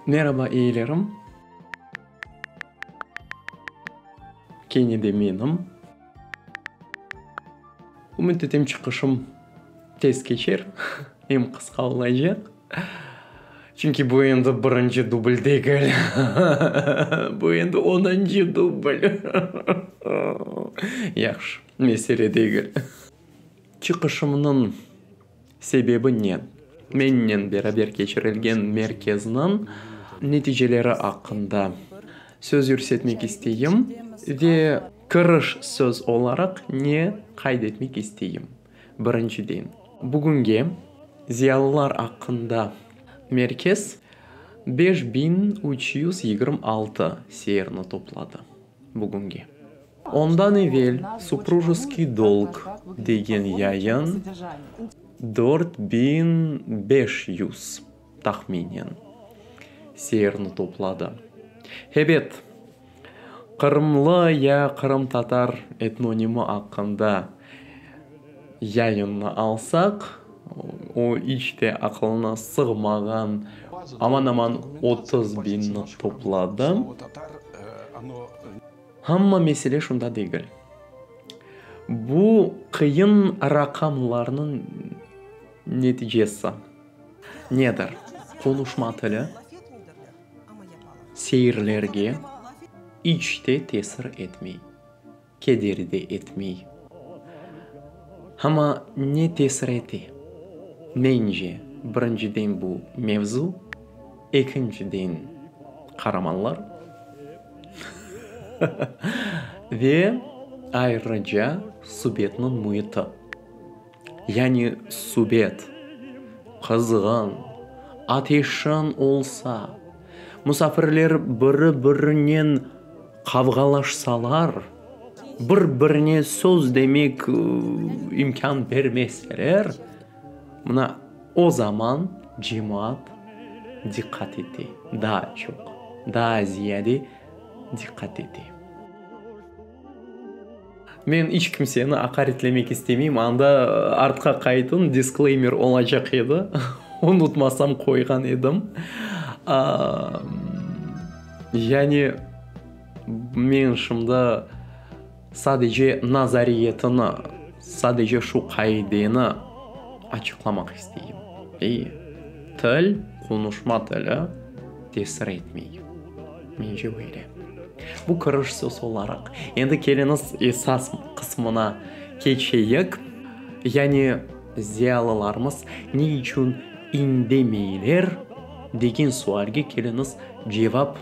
Meraba eyilerim. Kene de menim. Ümüt etem çıqışım tez keçer, em qısqa olacaq. Çünki bu endi birinci dubl degil. Bu endi onıncı dubl. Yahşı, mesele degil. Çıqışımnıñ sebebi ne? Mennen beraber keçirilgen merkezniñ neticeleri aqqında söz yürsetmek isteyim ve kiriş söz olaraq ne qayd etmek isteyim? Birinciden, bugünge ziyalılar aqqında merkez beş biñ üç yüz yigirmi altı seirni topladı. bugünge. Ondan evel Suprujeskıy dolg degen yayın dört biñ beş yüz, tahminen, seyrni topladı. Hebet, qırımlı ya qırımtatar etnonimi aqqında Yayınnı alsaq, o iç te aqılına sığmağan aman-aman otuz biñni topladı. Amma mesele şunda degil. Bu qıyın raqamlarnıñ neticesi nedir? Qonuşma tili seyirlerge iç te tesir etmey. Kederi de etmey. Amma ne tesir ete? Mence, birinciden bu mevzu, ekinciden qaramanlar, hıhıhı, ve ayrıca subetniñ müiti. Yani subet, qızğın, ateşin olsa, musafirler biri-birinen qavğalaşsalar, bir-birine söz demek imkân bermeseler, mına o zaman cemaat diqqat ete, daa çoq, daa ziyade diqqat ete. Men iç kimseni aqaretlemek istemeyim, anda artqa qaytın disclaimer olacaq edi, unutmasam qoyğan edim. Yani, men şimdi sadece nazariyetini, sadece şu qaideni açıqlamaq isteyim. Til, qonuşma tili tesir etmey. Mence böyle. Bu kiriş söz olaraq. Endi keliñiz esas qısmına keçeyik. Yani ziyalılarımız ne içün indemeyler degen sualge keliñiz cevap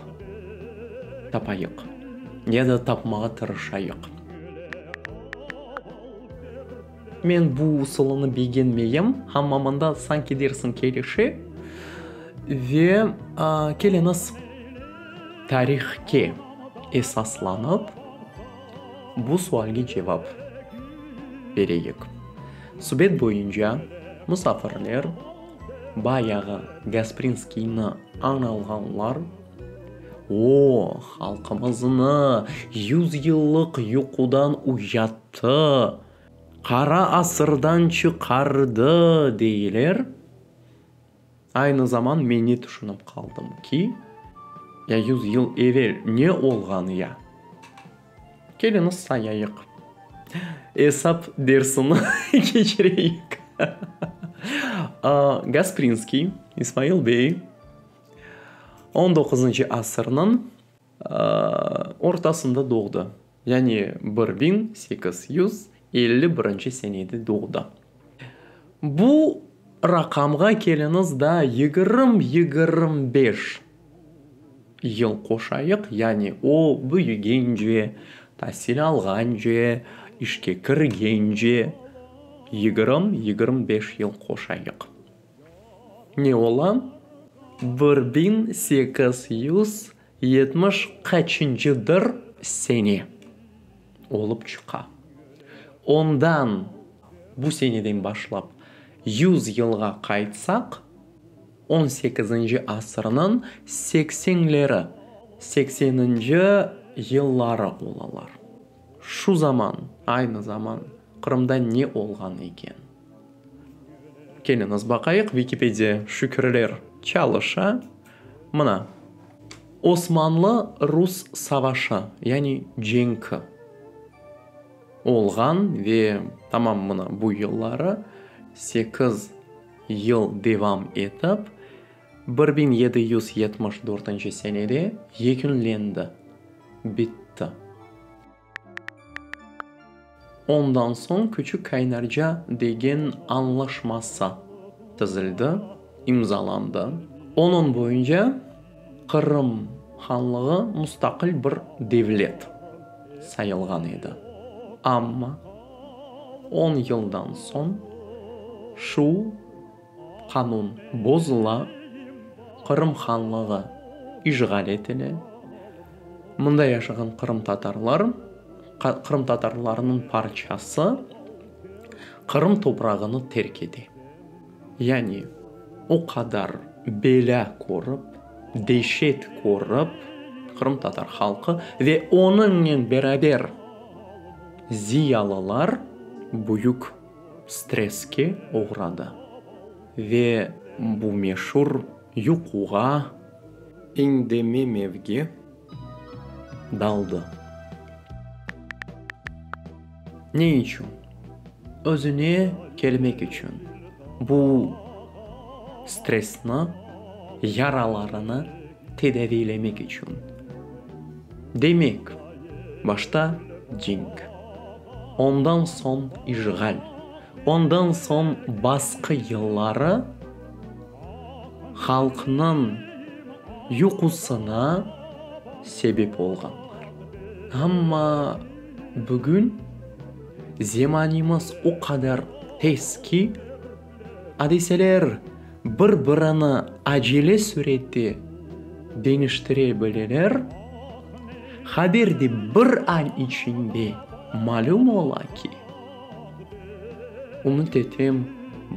tapayıq. Ya da tapmağa tırışayıq. Men bu usulını begenmeyim, amma mında sanki dersiñ kelişe ve keliñiz tarihke esaslanıp bu sualge cevap bereyik. Subet boyunca musafirler bayağı Gasprinskiyni añ alğanlar, O, halqımıznı yüz yıllıq yuqudan uyat! Tı, qara asırdan çıqardı, deyler. Aynı zaman mende tüşünip qaldım ki, ya yüz yıl evel ne olğan ya? Keliñiz sayayıq. Esap dersini keçireyik. Gasprinskiy İsmail bey, on doquzıncı asırnıñ. ortasında doğdı, yani bir biñ sekiz yüz elli birinci senede doğdı. Bu raqamğa keliñiz da yigirm, yigirm beş yıl qoşayıq, yani o büyügence, tasil alğance, işke kirgence yigirm, yigirm beş yıl qoşayıq. ne ola, bir biñ sekiz yüz yetmiş qaçıncıdır sene olıp çıqa. Ondan, bu seneden başlap, yüz yılğa qaytsaq, on sekizinci asırnıñ seksenleri, sekseninci yılları olalar. Şu zaman, aynı zaman Qırımda ne olğan eken? Keliñiz baqayıq Vikipediya şükürler çalışa. Mına, Osmanlı-Rus savaşı, yani cenki olğan ve tamam mına bu yılları sekiz yıl devam etip, bir biñ yedi yüz yetmiş dörtünci senede yekünlendi, bitti. Ondan soñ Küçük Kaynarca degen añlaşmasa tizildi, imzalandı. Onıñ boyunca Qırım Hanlığı mustaqil bir devlet sayılğan edi. Amma on yıldan soñ şu. qanun bozula, Qırım Hanlığı işğal etile, mında yaşağan qırımtatarlar, qırımtatarlarnıñ parçası Qırım toprağını terk ete. Yani o qadar belâ körip, deşet körip qırımtatar halqı ve onıñnen beraber ziyalılar büyük. stresske oğradı ve bu meşur yuquğa, indememevge, daldı. Ne içün? Özüne kelmek içün. Bu stressni, yaralarını. tedaviylemek içün. Demek, başta cenk, ondan soñ işğal, ondan soñ basqı yılları halqnıñ yuqusına sebep olğanlar. Amma bugün zemanemiz o qadar tez ki, adiseler bir-birini acele sürette deñiştire bileler, haber de bir ay içinde malüm ola ki, ümüt etem,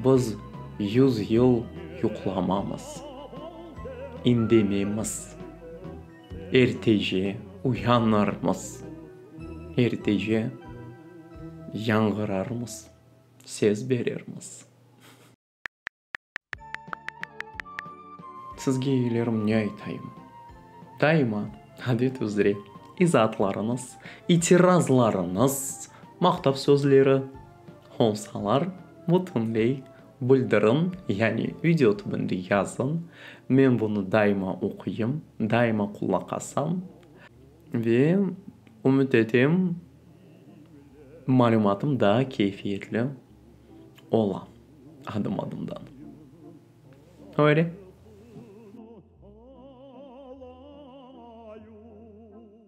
biz yüz yıl yuqlamamız, indememiz, ertece uyanırmız, ertece yañğırarmız. sez berermiz. Sizge iyilerim ne aytayım? Daima, adet üzre, izaatlarıñız, itirazlarıñız, maqtav sözleri olsalar, bütünley bildiriñ, yani video tübünde yazıñ. Men bunı daima oquyım, daima qulaq asam ve ümüt etem, Malümatım daa keyfiyetli ola adım-adımdan. Öyle.